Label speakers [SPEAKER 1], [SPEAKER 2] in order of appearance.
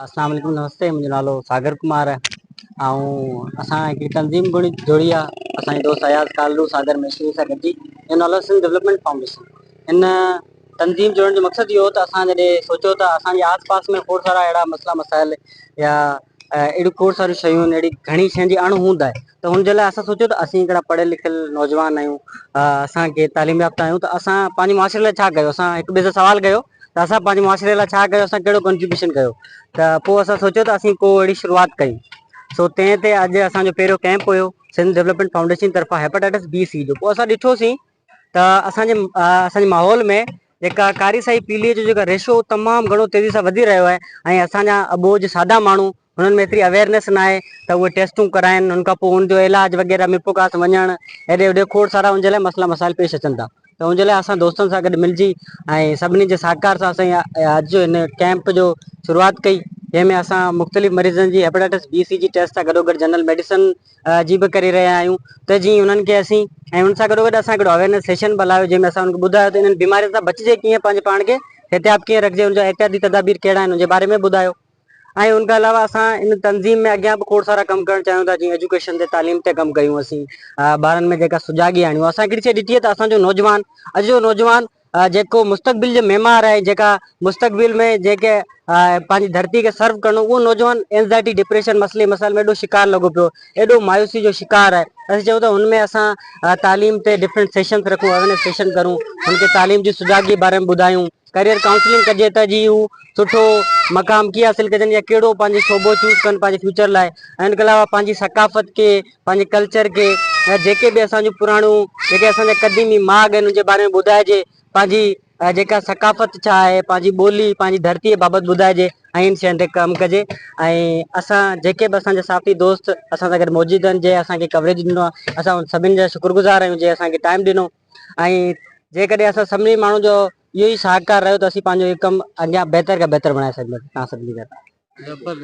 [SPEAKER 1] اسلام عليڪم نمستي منهنجو نالو ساگر ڪمار آهي ۽ اسان هڪڙي تنظيم گڏ جوڙي آ اسانجي دوست اياز ڪالرو ساگر مشري سان گڏجي ان نالو سنڌ ڊولپمينٽ فائونڊيشن ان تنظيم جوڙڻ جو مقصد اهو هو ته اسان جڏهن سوچيو ته اسانجي آس پاس ۾ کوڙ سارا اهڙا مسئلا مسائل يا اهڙيون کوڙ ساريون شيون آهن اهڙي گهڻي شين جي اڻ هوند آهي ته هن جي لاء اسان سوچيو ته اسين هڪڙا پڙهيل لکيل نوجوان آهيون اسان ڪي تعليم يافته آهيون ته اسان پنهنجي معاشري لاء ڇا ڪيو اسان هڪ ٻئي سان سوال ڪيو ته اسان پنهنجي معاشري لاء ڇا ڪيو، اسان ڪهڙو ڪنٽريبيوشن ڪيو، ته پوء اسان سوچيو ته اسين ڪو اهڙي شروعات ڪيون، سو تنهن تي اڄ اسان جو پهريون ڪئمپ هيو، سنڌ ڊولپمينٽ فائونڊيشن جي طرفان هيپاٽائٽس بي سي جو، پوء اسان ڏٺو سين ته اسان جي اسان جي ماحول ۾ جيڪا ڪاري سائي پيلي جو جيڪا ريشو تمام گهڻو تيزي سان وڌي رهيو آهي ۽ اسان جا اٻوجهه سادا ماڻهو انهن ۾ ايتري اويئرنيس ناهي ته اهي ٽيسٽون ڪرائين ان کان پوء ان جو علاج وغيره ۾ پوڪاس وڃڻ هيڏي هوڏي کوڙ سارا ان جي لاء مسئلا مسائل پيش اچن ٿا ته ان جي لاء اسان دوستن سان گڏ ملجي ۽ سڀني جي سهڪار سان اسان اڄ جو هن ڪيمپ جو شروعات ڪئي جنهن ۾ اسان مختلف مريضن جي هيپاٽائٽس بي سي جي ٽيسٽ سان گڏوگڏ جنرل ميڊيسن جي به ڪري رهيا آهيون ته جيئن انهن کي اسين ۽ ان سان گڏوگڏ اسان هڪڙو اويئرنيس سيشن به هلايو جنهن ۾ اسان ان کي ٻڌايو ته انهن بيمارين سان بچجي ڪيئن پنهنجي پاڻ کي احتياط ڪيئن رکجي ان جا احتياطي تدابير ڪهڙا آهن ان جي باري ۾ به ٻڌايو ۽ ان کان علاوه اسان ان تنظيم ۾ اڳيان به کوڙ سارا ڪم ڪرڻ چاهيون ٿا جيئن ايجوڪيشن تي تعليم تي ڪم ڪيون اسين ٻارن ۾ جيڪا سجاڳي آڻيون اسان هڪڙي شي ڏٺي آهي ته اسان جو نوجوان اڄ جو نوجوان جيڪو مستقبل جو معمار آهي جيڪا مستقبل ۾ جيڪي پنهنجي ڌرتي کي سرو ڪرڻو اهو نوجوان اينزائٽي ڊپريشن مسئلي مسائل ۾ ايڏو شڪار لڳو پيو ايڏو مايوسي جو شڪار آهي اسين چاهيون ٿا هن ۾ اسان تعليم تي ڊفرنٽ سيشنس رکون اويرنيس سيشن ڪرون هن کي تعليم جي سجاڳي باري ۾ ٻڌايون ڪريئر ڪائونسلنگ ڪجي ته جي هو سٺو مقام ڪيئن حاصل ڪجن يا ڪهڙو پنهنجو شعبو چوز ڪن پنهنجي فيوچر لاء ۽ ان کان علاوه پنهنجي ثقافت کي پنهنجي ڪلچر کي يا جيڪي به اسان جون پراڻيون جيڪي اسان جا قديمي ماڳ آهن ان جي باري ۾ ٻڌائجي پنهنجي جيڪا ثقافت ڇا آهي پنهنجي ٻولي پنهنجي ڌرتيء بابت ٻڌائجي ۽ ان شين تي ڪم ڪجي ۽ اسان جيڪي به اسان جا ساٿي دوست اسان سان گڏ موجود آهن جنهن اسان کي ڪوريج ڏنو آهي اسان ان سڀن جا شڪر گذار آهيون جنهن اسان کي ٽائم ڏنو ۽ جيڪڏهن اسان سڀني ماڻهن جو اهو ئي ساهڪار رهيو ته اسين پنهنجو هي ڪم اڳيان بهتر کان بهتر بڻائي سگهنداسين توهان سڀني ڪري.